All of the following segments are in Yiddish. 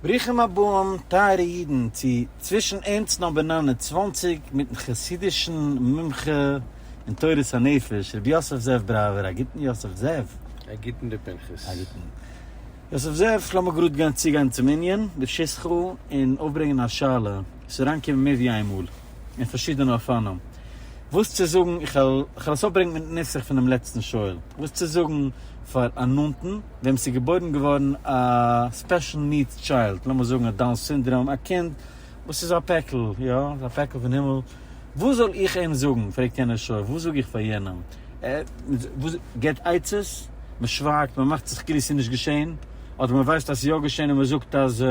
ברוכים הבאים טייערע אידן צו צווישן ערנסט נאמבער נײַן און צוואַנציק מיטן חסידישן מומחה אין תורת הנפש רבי יוסף זאב בראווער, א גוטן יוסף זאב. א גוטן ר' פנחס. א גוטן יוסף זאב, לאמיר גראד גיין צוגיין צום ענין ברשות כ און אויפברענגען א שאלה וואס איז אריינגעקומען מער ווי איינמאל אין פארשידענע אופנים וואס צו זאגן, איך וועל עס אויפברענגען מיטן נוסח פונעם לעצטן שואל, וואס צו זאגן פאר א נאנטן. וועם ס'איז געבוירן געווארן א ספעשל נידס טשיילד, לאמיר זאגן א דאון סינדראם, א קינד וואס איז א פעקל, יא, א פעקל פון הימל, וואס זאל איך אים זאגן, פרעגט יענער שואל, וואס זאג איך פאר יענעם, ער גיבט עצות, מ'שווייגט, מ'מאכט זיך כאילו ס'איז נישט געשען, אדער מ'ווייסט אז ס'איז יא געשען און מ'זאגט אז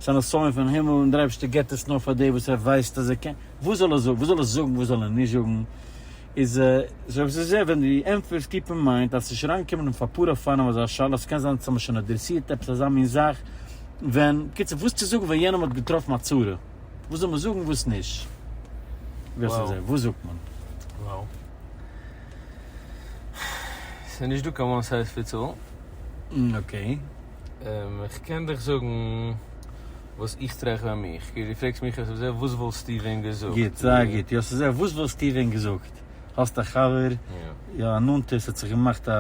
ס'איז אן אסיון פון הימל און דער אייבערשטער גיבט עס נאר פאר די וואס ער ווייסט אז ער קען, וואס זאל ער זאגן, וואס זאל ער זאגן, וואס זאל ער נישט זאגן. איז עס אויב ס'איז ער ווען די ענטפער איז טיפער מיינט אז ס'איז שוין אריינגעקומען אויף אפאר אופנים אזא שאלה ס'קען זיין אז ס'האט מען שוין אדרעסירט עפעס אזא מין זאך ווען בקיצור וואס צו זאגן ווען יענעם האט געטראפן א צרה וואס זאל מען זאגן וואס נישט ווי עס איז ער וואס זאגט מען. וואו ס'איז נישט דא קיין וואן סייז פיטס אלל. אקעי. איך קען דיך זאגן וואס איך טרעך ביי מיך, כאילו דו פרעגסט מיך אויס אזוי וואס וואלסטו ווען געזאגט? גוט, זייער גוט, יא ס'אזוי וואס וואלסטו ווען געזאגט, האסט א חבר, יא א נאנטער ס'האט זיך געמאכט א,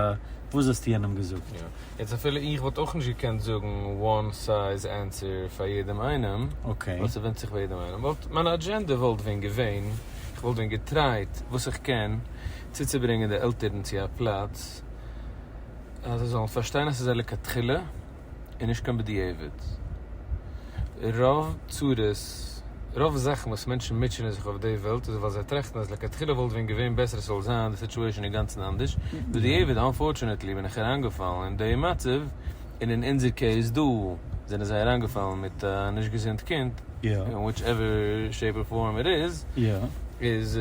וואס וואלסטו יענעם געזאגט? יא, יעצט אפילו איך וואלט אויך נישט געקענט זאגן וואן סייז ענסער פאר יעדעם איינעם, ווייל ס'ווענדט זיך ביי יעדעם איינעם, וואלט מיין אדזשענדע וואלט ווען געווען, איך וואלט ווען געטרייט וואס איך קען צוצוברענגען די עלטערן צו א פלאץ, אז זיי זאלן פארשטיין אז ס'איז א לכתחילה און נישט קיין בדיעבד. רוב צרות, רוב זאכן וואס מענטשן מוטשענען זיך אויף די וועלט איז ווייל זיי טראכטן אז לכתחילה וואלט ווען געווען בעסער עס זאל זיין די סיטואשען אינגאנצן אנדערש, בדיעבד אנפארטשענעטלי בין איך אריינגעפאלן אין די מצב, און אין אונזער קעיס דא זענען זיי אריינגעפאלן מיט א נישט געזונט קינד, אין וויטש עווער שעיפ אר פארם איט איז, איז.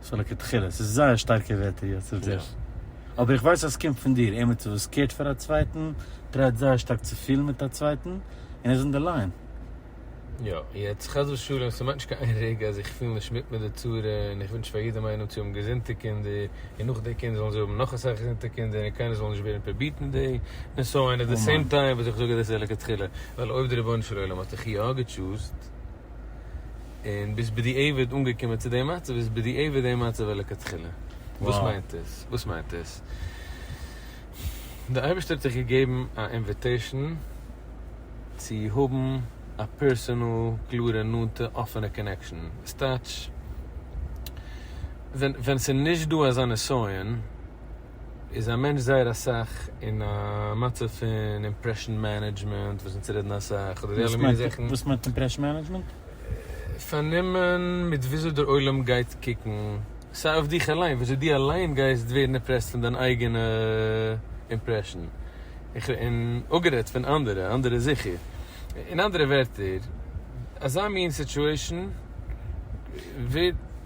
סאו לכתחילה, ס'איז זייער שטארקע ווערטער יעצט אויף דיר. אבער איך ווייס אז ס'קומט פון דיר, עמיצער וואס קערט פאר א צווייטן, טרייט זייער שטארק צו פילן מיט א צווייטן, און ער איז אין די ליין. יא, יעצט חס ושלום, ס'מיינט נישט קיין רגע אז איך פיל נישט מיט מיט די צרה, און איך ווינטש פאר יעדעם איינעם צו האבן געזונטע קינדער, און נאך די קינדער זאלן זיי האבן נאך אסאך געזונטע קינדער, און קיינער זאל נישט ווערן פארביטן אין די נסיון, עט די סעים טיים וואס איך זאג אז דאס איז לכתחילה, ווייל אויב די רבונו של עולם האט דיך יא געטשוזט, און ביסט בדיעבד אנגעקומען צו די מצב איז בדיעבד די מצב ולכתחילה. וואס מיינט עס? וואס מיינט עס? די אייבערשטער האט דיך געגעבן א אינוויטעישן צו האבן א פערסענעל קלארע נאנטע אפענע קאנעקשאן, עס טייטש ווען ווען ס'איז נישט דא אזא נסיון איז א מענטש זייער אסאך אין א מצב פון אימפרעשאן מענעדזשמענט וואס אונז רעדן אסאך אדער די אלע מיני זאכן. וואס מיינט אימפרעשאן מענעדזשמענט? פארנומען מיט וויאזוי דער עולם גייט קוקן, סיי אויף דיך אליין, וויאזוי דו אליין גייסט ווערן אימפרעסט פון דיין אייגענע אימפרעשאן, און אפגערעדט פון אנדערע, אנדערע זיכער. אין אנדערע ווערטער, אזא מין סיטועשאן ווערט.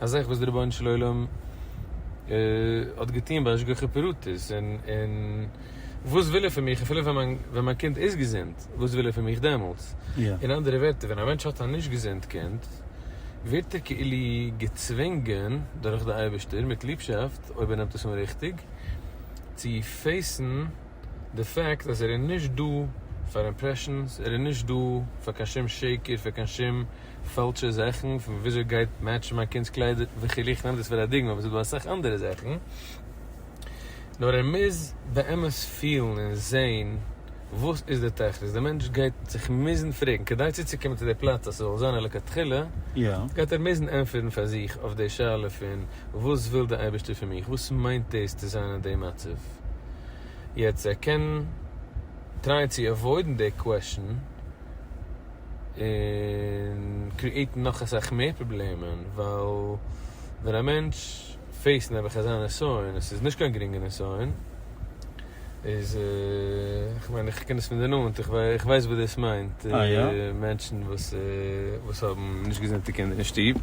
א זאך וואס דער רבונו של עולם האט געטון בהשגחה פרטית, און וואס וויל ער פון מיך אפילו ווען מיין קינד איז געזונט, וואס וויל ער פון מיך דעמאלטס? אין אנדערע ווערטער, ווען א מענטש האט א נישט געזונט קינד, ווערט ער כאילו געצווינגען דורך די אייבערשטער מיט ליבשאפט, אויב ער נעמט עס אן ריכטיג, צו פעיסן, די פעקט אז ער איז נישט דא פאר אימפרעשאנס, ער איז נישט דא פאר קיין שום שקר, פאר קיין שום פאלשע זאכן פון וויאזוי גייט מעטשן מיין קינד'ס קליידער וכו', איך נעם דאס פאר א דוגמא אבער עס איז דא אסאך אנדערע זאכן, נאר ער מוז באמת פילן און זעהן וואס איז די תכלית, די מענטש גייט זיך מוזן פרעגן, כדי צוצוקומען צו די פלאץ אז ס'זאל זיין א לכתחילה, גייט ער מוזן ענטפערן פאר זיך אויף די שאלה פון וואס וויל די אייבערשטער פון מיך, וואס מיינט דאס צו זיין אין די מצב. געזאגט. יעצט ער קען טרייען צו עוואוידן די קוועשן און קריעטן נאך אסאך מער פראבלעמען ווייל ווען א מענטש פעיסט נעבעך אזא נסיון עס איז נישט קיין גרינגע נסיון איז איך מיין איך קען עס פון די נאנט איך ווייס וואס דאס מיינט מענטשן וואס האבן נישט געזונטע קינדער אין שטוב.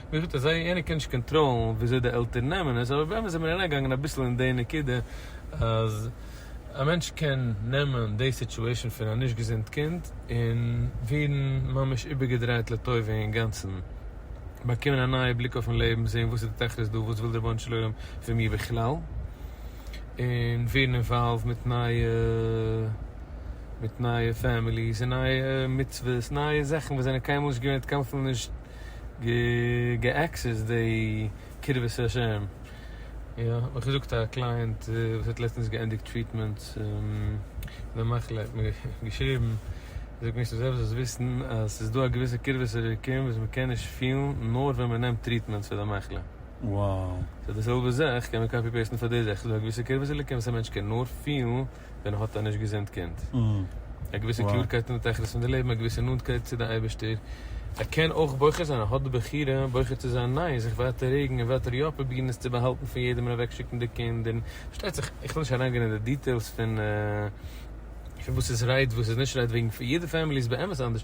ווי געזאגט אזוי איינער קען נישט קאנטראלן וויאזוי די עלטערן נעמען עס, אבער באמת זעמיר אריינגעגאנגען אביסל אין די נקודה אז א מענטש קען נעמען די סיטואשען פון א נישט געזונט קינד און ווערן ממש איבערגעדרייט לטובה אינגאנצן, באקומען א נייע בליק אויפן לעבן, זען וואס איז די תכלית דא, וואס וויל די רבונו של עולם פון מיר בכלל, און ווערן אינוואלווד מיט נייע מיט נייע פעמיליס און נייע מצוות, נייע זאכן וואס זענען קיינמאל נישט געווען, התקלפנו נישט. גע'עקסעסד די קרבת השם, יא האט מיר געזאגט א קלייענט וואס האט לעצטענס געענדיגט טריטמענטס פון א מחלה האט מיר געשריבן, ער זאגט מיר ס'זעלבסט זאלסט וויסן אז ס'איז דא א געוויסע קרבת אלוקים וואס מען קען נישט פילן נאר ווען מען נעמט טריטמענטס פאר די מחלה. סאו די זעלבע זאך קען מען קאפי פעיסטן פאר די זאך, ס'איז דא א געוויסע קרבת אלוקים וואס א מענטש קען נאר פילן ווען האט א נישט געזונט קינד? א געוויסע קלארקייט אין די תכלית פון די לעבן, א געוויסע נאנטקייט צו די אייבערשטער, ער קען אויך בוחר זיין, ער האט די בחירה בוחר צו זיין ניין, זיך ווייטער רעגן און ווייטער יא פרובירן עס צו באהאלטן פון יעדעם און אוועקשיקן די קינד און פארשטייט זיך איך וויל נישט אריינגיין אין די דיטעילס פון וואס איז רייט וואס איז נישט רייט וועגן יעדע פעמילי איז באמת אנדערש.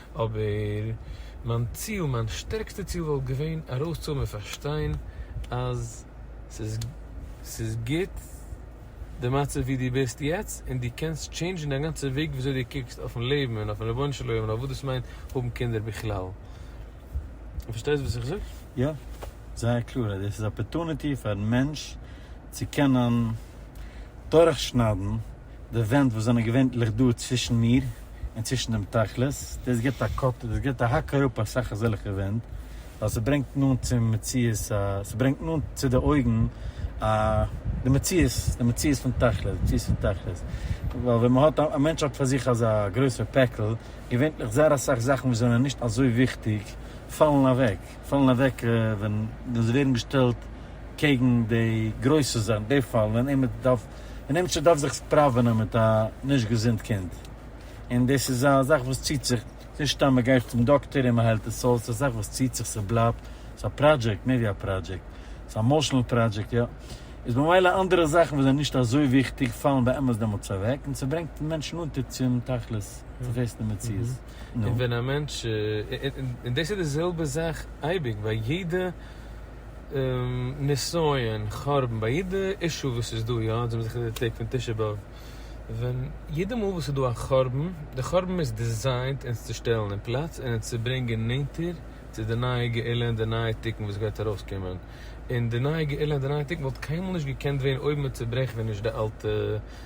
אבער מיין ציל, מיין שטערקסטע ציל וואלט געווען ארויסצוהאבן און פארשטיין אז ס'איז ס'איז גוט די מצב ווי דו ביסט יעצט און דו קענסט טשעינדזשן דיין גאנצע וועג וויאזוי דו קוקסט אויפן לעבן און אויפן רבונו של עולם און אויף וואס דאס מיינט האבן קינדער בכלל. דו פארשטייסט וואס איך זאג? יא, זייער קלאר אז דאס איז אפערטוניטי פארן מענטש צו קענען דורכשניידן. די ווענט וואס זענען געווענטליך דא צווישן מיר און צווישן דעם תכלית, דאס גיבט א קאט, דאס גיבט א האק אראפ אסאך אזעלכע ווענט, ווייל ס'ברענגט נאנט צום מציאות א, ס'ברענגט נאנט צו די אויגן א, די מציאות, די מציאות פון תכלית, די מציאות פון תכלית. ווייל ווען מ'האט א, א מענטש האט פאר זיך אזא גרויסער פעקל, געווענטליך זייער אסאך זאכן וואס זענען נישט אזוי וויכטיג פאלן אוועק, פאלן אוועק ווען, ווען זיי ווערן געשטעלט קעגן די גרויסע זאכן, די פאלן ווען עמער דארף און עמיצער דארף זיך ספראווענען מיט א נישט געזונט קינד, און דאס איז א זאך וואס ציט זיך, ס'איז נישט סתם מ'גייט צום דאקטער און מ'היילט עס אויס, ס'איז א זאך וואס ציט זיך, ס'בלייבט, ס'איז א פראדזשעקט, מער ווי א פראדזשעקט, ס'איז א עמאשענעל פראדזשעקט, יא, איז במילא אנדערע זאכן וואס זענען נישט אזוי וויכטיג פאלן באמת דעמאלטס אוועק, און ס'ברענגט מענטשן אונטער צום תכלית, צום פעסטן מציאות. נו. און ווען א מענטש, און דאס איז די זעלבע זאך אייביג, ביי יעדע. נסיון, חורבן, ביי יעדע אישו וואס איז דא יא, זעמיר זיכער די טעג פון תשעה באב, ווען יעדע מאל וואס איז דא א חורבן, די חורבן איז דיזיינט אונז צו שטעלן אין פלאץ און אונז צו ברענגען נענטער צו די נייע גאולה און די נייע תיקון וואס גייט ארויסקומען, און די נייע גאולה און די נייע תיקון וואלט קיינמאל נישט געקענט ווערן אויב מען צוברעכט ווען נישט די אלטע.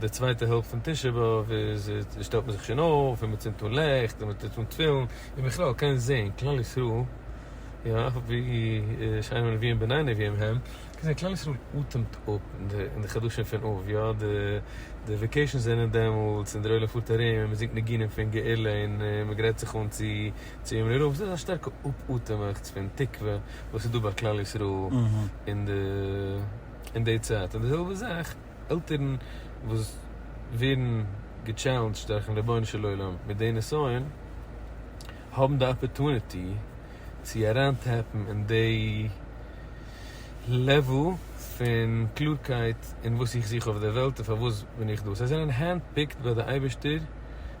די צווייטע העלפט פון תשעה באב איז שטעלט מען זיך שוין אויף און מען צינדט אן לעכט און מען טוט אן תפילין און בכלל קען זעהן כלל ישראל יא ווי שיינע נביאים בני נביאים הם קען זעהן כלל ישראל אטעמט אפ אין די חדשים פון אב יא די וועקעישאנס זענען דעמאלטס און דער עולם פארט ארום און מען זינגט ניגונים פון גאולה און מען גרייט זיך אן צו יום נראה וואס איז א שטארקע אפאטעמעכטס פון תקווה וואס איז דא ביי כלל ישראל אין די אין די צייט און די זעלבע זאך עלטערן וואס ווערן געטשעלענדזשט דורכן רבונו של עולם מיט די נסיון האבן די אפערטוניטי צו אריין טעפן אין די לעוועל פון קלארקייט אין וואס איך זוך אויף די וועלט און פארוואס בין איך דא זיי זענען הענד פיקט ביי די אייבערשטער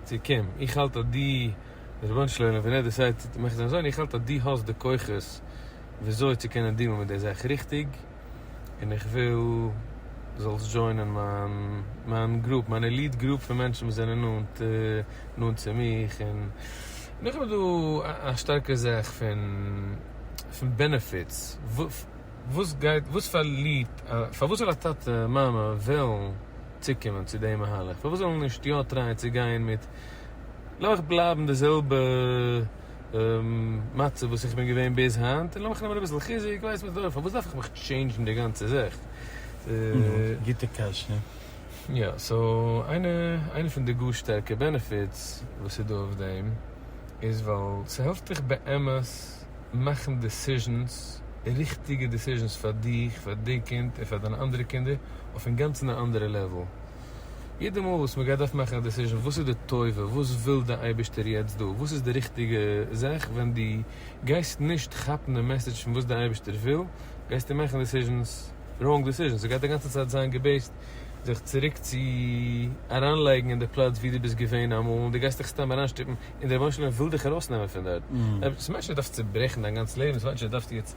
צו קום איך האלט אז דו די רבונו של עולם ווען ער דעסיידט צו מאכן זיין זוהן איך האלט אז דו האסט די כוחות וויאזוי צו קענען דילן מיט די זאך ריכטיג. און איך וויל דו זאלסט דזשוינען מיין מיין גרופ, מיין עליט גרופ פון מענטשן וואס זענען נאנט נאנט צו מיך, און איך האב דא א שטארקע זעך פון פון בענעפיטס, וואס גייט וואס פארלירט פארוואס זאל א טאטע מאמע וועלן צוקומען צו די מהלך, פארוואס זאל איך נישט יא טרייען צו גיין מיט, לאמיך בלייבן די זעלבע. מצב וואס איך בין געווען ביז היינט, און לאמיך נעמען אביסל חיזוק, ווייס מיר דאך, פארוואס דארף איך מיך טשעינדזשן די גאנצע זאך? גוטע קשיא. יא, סאו איינע פון די גאר שטארקע בענעפיטס וואס איז דא אויף דעם, איז ווייל ס'העלפט דיך באמת מאכן דעסיזשענס, ריכטיגע דעסיזשענס פאר דיך, פאר די קינד, און פאר דיינע אנדערע קינדער, אויף אינגאנצן א אנדערע לעוול. יעדע מאל וואס מען גייט דארפן מאכן א דעסיזשען וואס איז די טובה, וואס וויל די אייבערשטער יעצט דא, וואס איז די ריכטיגע זאך, ווען דו גייסט נישט כאפן די מעסעדזש פון וואס די אייבערשטער וויל, גייסטו מאכן דעסיזשענס, ראונג דעסיזשענס, דו גייסט די גאנצע צייט זיין געבעיסט זיך צוריק צו אריינלייגן אין די פלאץ ווי דו ביסט געווען אמאל, און דו גייסט דיך סתם אריינשטופן, און דער רבונו של עולם וויל דיך ארויסנעמען פון דארט. עפעס מיינט נישט אז דו דארפסט צוברעכן דיין גאנץ לעבן, עס מיינט נישט אז דו דארפסט יעצט.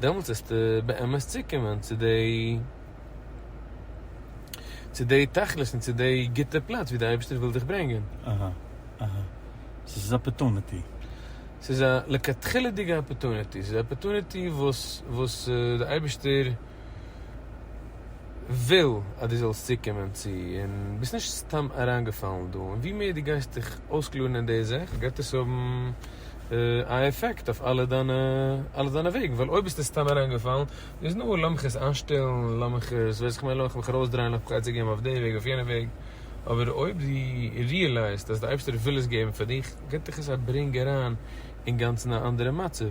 דעמאלטס וועסטו באמת צוקומען צו די צו די תכלית און צו די גוטע פלאץ ווי די אייבערשטער וויל דיך ברענגען. אהא אהא. סאו ס'איז אפערטוניטי. ס'איז א לכתחילה'דיגע אפערטוניטי, ס'איז א אפערטוניטי וואס וואס די אייבערשטער. וויל אז דו זאלסט צוקומען צו און ביסט נישט סתם אריינגעפאלן דא, און ווי מער דו גייסט דיך אויסקלארן אין די זאך גייט עס האבן א עפעקט אויף אלע דיינע אלע דיינע וועגן, ווייל אויב ביסטו סתם אריינגעפאלן איז נאר לאמיך עס איינשטעלן, לאמיך עס ווייס איך מיין לאמיך מיך ארויסדרייען לאמיך מיך עצה געבן אויף די וועג אויף יענע וועג, אבער אויב דו ריעלייזט אז די אייבשטער וויל עס געבן פאר דיך גייט דיך עס אברענגען אריין אינגאנצן א אנדערע מצב.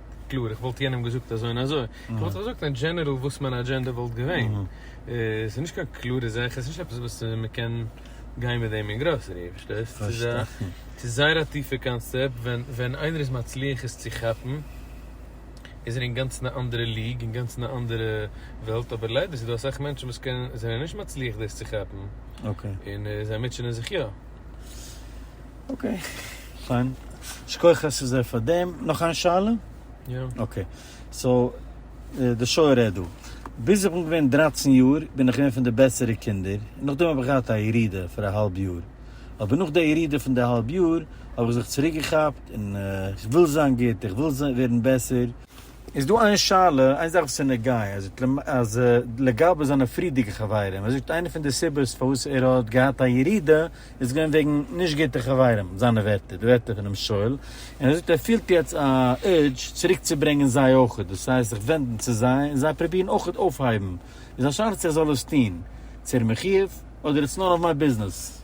קלאר איך וואלט יענעם געזאגט אזוי און אזוי, איך וואלט זיך געזאגט אין דזשענעראל וואס מיין אדזשענדע וואלט געווען, עס איז נישט קיין קלארע זאך, עס איז נישט עפעס וואס מען קען גיין מיט דעם אין גראסערי, פארשטייסט? עס איז זייער א טיפע קאנסעפט, ווען ווען איינער איז מצליח עס צו כאפן, איז ער אינגאנצן א אנדערע ליג, אינגאנצן א אנדערע וועלט, אבער ליידער איז דא אסאך מענטשן וואס קענען, זענען נישט מצליח דאס צו כאפן, און זיי מוטשענען זיך יא. אקעי, פיין. שכוח אסי ז פאר דעם. נאך איין שאלה? יא. אקעי. סאו, די שוי רעדט דא. ביז איך בין געווען דרײַצן יאר בין איך געווען פון די בעסערע קינדער, און נאכדעם האב איך געהאט א ירידה פאר א האלב יאר. אבער נאך די ירידה פון די האלב יאר האב איך זיך צוריקגעכאפט, און איך וויל זיין גוט, איך וויל ווערן בעסער. איז דא איין שאלה, איין זאך וואס איז נוגיא, ער זאגט אז לגבי זיינע פריערדיגע חברים, ער זאגט איינע פון די סיבות פארוואס ער האט געהאט א ירידה איז געווען וועגן נישט גוטע חברים, זיינע ווערטער, די ווערטער פונעם שואל, און ער זאגט ער פילט יעצט א urge צוריק צו ברענגען זיי אויכעט, דאס הייסט זיך ווענדן צו זיי און זיי פרובירן אויכעט אויפהייבן, איז א שאלה צו איך זאל עס טון צו ער מחויב, אדער איטס נאן אוו מיי ביזנעס,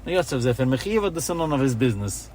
נו יאסעף זיי פון מחויב אדער ס'נאן אוו היז ביזנעס?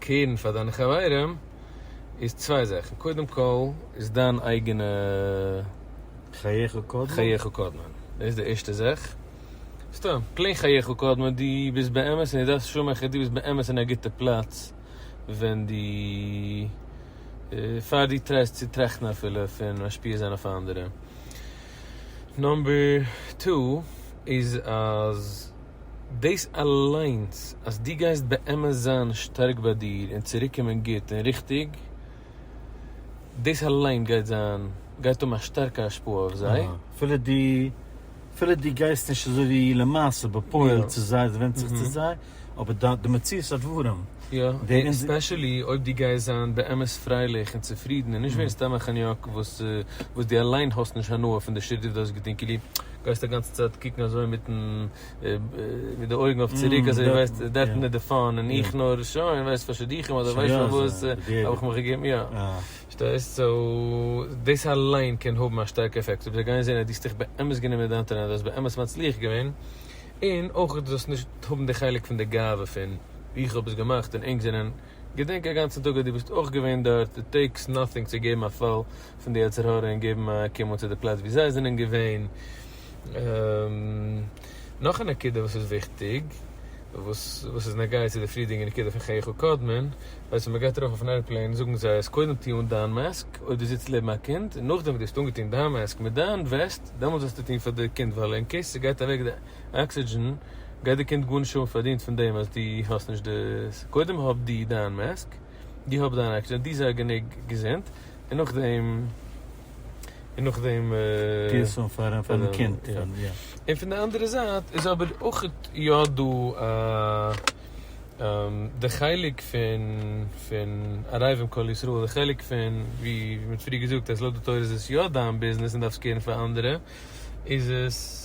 קעירן פאר דיינע חברים איז צוויי זאכן, קודם כל איז דיין אייגענע חייך קודמא, חייך קודמא, דאס איז די ערשטע זאך, סתם פלעין חייך קודמא, דו ביסט באמת און דו דארפסט שומעכער, דו ביסט באמת אין א גוטע פלאץ ווען דו, פאר דו טרייסט צו טראכטן אפילו פון משפיע זיין אויף אנדערע. נאמבער טו איז אז. דאס אליינס אז דו גייסט באמת זיין שטארק ביי דיר און צוריקקומען גוט און ריכטיג, דאס אליין גייט זיין, גייט האבן א שטארקע השפעה אויף זיי. אפילו דו, אפילו דו גייסט נישט אזוי ווי למעשה, בפועל, צו זיי, עס ווענדט זיך צו זיי, אבער דיין, די מציאות הדברים, יא, און ספעשעלי אויב דו גייסט זיין באמת פרייליך און צופרידן און נישט ווערן סתם א חניאק וואס, וואס דו אליין האסט נישט הנאה פון די שריט וואס דו האסט געטון, כאילו. גייסט א גאנצע צייט קוקן אזוי מיטן מיט די אויגן אויף צוריק אזוי ווייסט דעפענעט די פאון און איך נאר שוין ווייסט פאר שידוכים אדער ווייסט שוין וואס האב איך מיך געגעבן יא שטייסט סאו דאס אליין קען האבן א שטארקע עפעקט אויב זיי גייען זעהן אז דו האסט דיך באמת גענומען מיט דיין טאלאנט דו האסט באמת מצליח געווען און אויך דו זאלסט נישט האבן די חלק פון די גאווה פון איך האב עס געמאכט און ענק זענען געדענק א גאנצע טאג אז דו ביסט אויך געווען דארט, איט טעיקס נאטינג צו געבן א פאל פון די יצר הרע און געבן א קומען צו די פלאץ ווי זיי זענען געווען. נאך א נקודה וואס איז וויכטיג, וואס איז נוגע צו די פריערדיגע נקודה פון חייך קודמין, ווייסט ווען מ'גייט ארויף אויפן עירפלעין זאגן זיי אז קודם טוה אן דיין מאסק אויב דו זיצט לעבן א קינד, און נאכדעם וואס דו האסט אנגעטון דיין מאסק מיט דיין וועסט דעמאלטס זאלסטו טון פאר די קינד ווייל אין קעיס ס'גייט אוועק די. אקסידזשען גייט די קינד גארנישט האבן פארדינט פון דעם אז דו האסט נישט די ס. קודם האב דו דיין מאסק, דו האב דיין אקסידזשען, דו זיי גענוג געזונט, און נאכדעם, און נאכדעם. טוה עס פאר דיין קינד. און פון די אנדערע זייט איז אבער אויך יא דא א די חלק פון פון ערבים כל ישראל, די חלק פון ווי מען האט פריער געזאגט אז לויט די תורה איז עס יא דיין ביזנעס און דארפסט קערן פאר אנדערע, איז עס.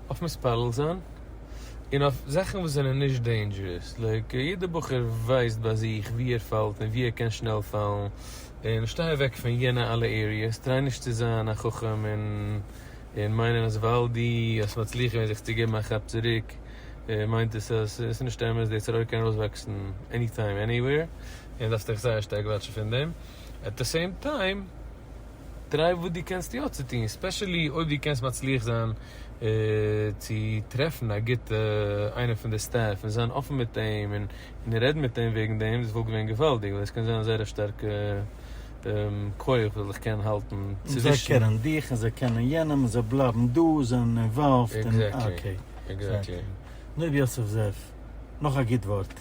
אויף מתפלל זיין און אויף זאכן וואס זענען נישט דעינדזשערעס, לייק יעדע בחור ווייסט ביי זיך ווי ער פאלט און ווי ער קען שנעל פאלן, און שטיי אוועק פון יענע אלע עריעס, טריי נישט צו זיין א חכם און און מיינען אז ווייל דו האסט מצליח געווען זיך צו געבן א כאפ צוריק מיינט עס אז עס איז נישט אמת, די צרה קען ארויסוואקסן עני טיים עניוועיר און דארפסט דיך זייער שטארק וואטשן פון דעם, עט די סעים טיים. טריי וואס דו קענסט יא צו טון, ספעשעלי אויב דו קענסט מצליח זיין צו טרעפן א גוטע איינער פון די סטעף און זיין אפן מיט אים און רעדן מיט אים וועגן דעם, דאס וואלט געווען געוואלדיג ווייל דאס קען זיין א זייער א שטארקע כח וואס זיך קען האלטן צווישן. זיי קענען דיך און זיי קענען יענעם און זיי בלייבן דא, זענען אינוואלווד און אקעי. אקזעקטלי. נאר יוסף זאב, נאך א גוט ווארט.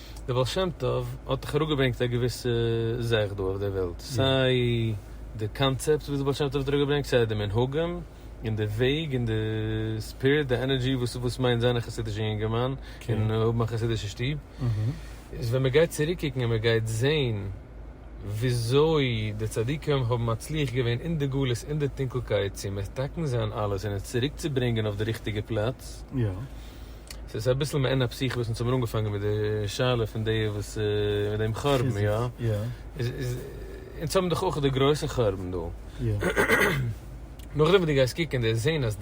דער בעל שם טוב האט דאך אראפגעברענגט א געוויסע זאך דא אויף דער וועלט, סיי די קאנצעפט וואס דער בעל שם טוב האט אראפגעברענגט, סיי די מנהגים, און די וועג, און די ספיריט, די ענערדזשי וואס וואס מיינט זיין א חסידישער יונגערמאן, און האבן א חסידישע שטוב. איז ווען מען גייט צוריקקוקן און מען גייט זען וויאזוי די צדיקים האבן מצליח געווען אין די גלות, אין די טונקלקייט, צו מתקן זיין אלעס און עס צוריקצוברענגען אויף די ריכטיגע פלאץ, ס'איז אביסל מעין הפסיכי וואס אונז האמיר אנגעפאנגען מיט די שאלה פון די וואס מיט דעם חורבן יא? איז אונז האבן דאך אויך די גרויסע חורבן דא. נאכדעם וואס דו גייסט קוקן און דו זעהן אז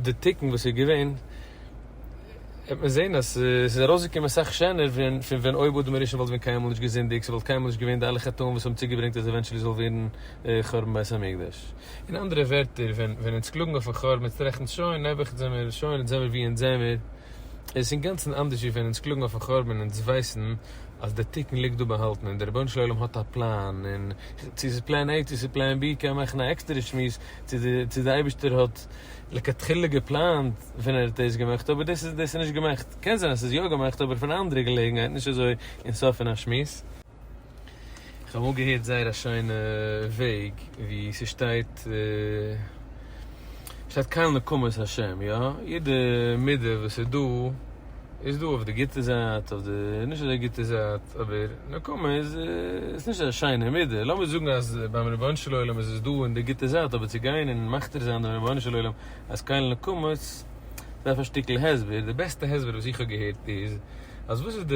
די תיקון וואס איז געווען וועט מען זעהן אז ס'איז ארויסגעקומען אסאך שענער פון פון ווען אויב אדם הראשון וואלט ווען קיינמאל נישט געזינדיגט ס'וואלט קיינמאל נישט געווען די אלע חטאים וואס האבן צוגעברענגט אז עווענטשעלי זאל ווערן חורבן בית המקדש. אין אנדערע ווערטער, ווען ווען אונז קלאגן אויפן כאר מיט רעכנט שוין, נעבעך זעמיר שוין אונז זעמיר ווי אונז זעמיר, עס איז אינגאנצן אנדערש ווי ווען אונז קלאגן אויפן חורבן אונז ווייסן אז דער תיקון ליגט דא באהאלטן און דער רבונו של עולם האט א פלאן און צו ס'איז פלען עי צו ס'איז פלען בי קען מען מאכן א עקסטערע שמועס צו די צו די אייבישטער האט לכתחילה געפלאנט ווען ער האט דאס געמאכט אבער דאס איז דאס איז נישט געמאכט קען זיין אז ס'איז יא געמאכט אבער פון א אנדערע געלעגנהייט נישט אזוי אין סוף פון א שמועס. איך האב אמאל געהערט זייער א שיינע וועג ווי ס'שטייט ס'שטייט קהל נקמות השם יא? יעדע מידה וואס איז דא איז דא אויף די גוטע זייט אויף די נישט אזוי גוטע זייט אבער נקמה איז איז נישט אזא שיינע מידה לאמיר זאגן אז ביים רבונו של עולם איז עס דא אין די גוטע זייט אבער צו גיין און מכתיר זיין דעם רבונו של עולם אז קהל נקמות דארף א שטיקל הסבר די בעסטע הסבר וואס איך האב געהערט איז אז וואס איז די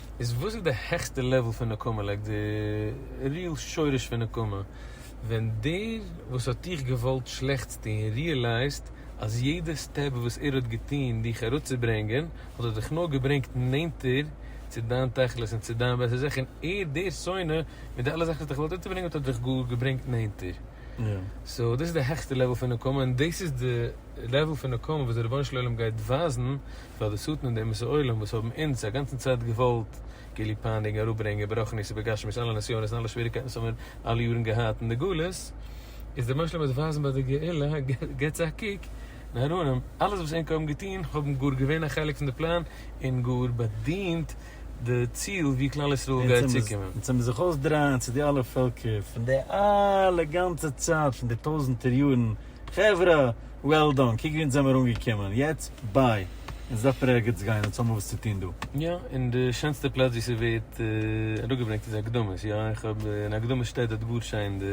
איז וואס איז די העכסטע לעוועל פון נקמה לייק די ריעל שורש פון נקמה ווען דער וואס האט דיך געוואלט שלעכטס טון ריעלייזט אז יעדע סטעפ וואס ער האט געטון דיך אראפצוברענגען האט ער דיך נאר געברענגט נענטער צו דיין תכלית און צו דיין בעסער זיך און ער דער שונא מיט די אלע זאכן וואס האט דיך געוואלט אונטערברענגען האט ער דיך גאר געברענגט נענטער סאו דאס איז די העכסטע לעוועל פון נקמה און דאס איז די לעוועל פון נקמה וואס דער רבונו של עולם גייט ווייזן פאר די שטן און די אומות העולם וואס האבן אונז א גאנצן צייט געוואלט געליב פייניגן אראפ ברענגען ברוחנית ובגשמיות אלע נסיונות און אלע שוועריקייטן וואס האמיר אלע יארן געהאט אין די גלות איז די משלים אז ווייזן ביי די גאולה געטס א קוק די ארונים אלעס וואס ענק האבן געטון האבן גאר געווען א חלק פון די פלאן און גאר באדינט די ציל ווי כלל ישראל גייט צוקומען. אונז האמיר זיך אויסדרייען צו די אלע פעלקער פון די אלע גאנצע צייט פון די טויזענטער יארן חברה! וועל דאן! קוק ווי אונז זעמער אנגעקומען! יעצט ביי! אונז דארף מיר ערגעץ גיין! אונז האמער וואס צו טון דא! יא, און די שענסטע פלאץ ווי ס'ווערט אראפגעברענגט איז הקדמות, יא, איך האב אין הקדמות שטייט דארט גאר שיין די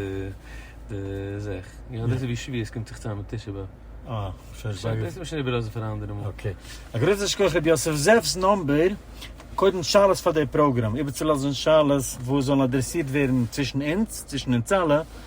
די זאך, יא, דאס איז ווי שביעות קומט זיך צוזאם מיט תשעה באב. אה, שוין שוין. דאס מוזט שוין איבערלאזן פאר א אנדערע מאל. אקעי. א גרויסן שכח ר' יוסף זאב'ס נאמבער, קודם שאלות פאר די פראגראם, איבערצולאזן שאלות וואס זאלן אדרעסירט ווערן צווישן אונז, צווישן אונז אלע.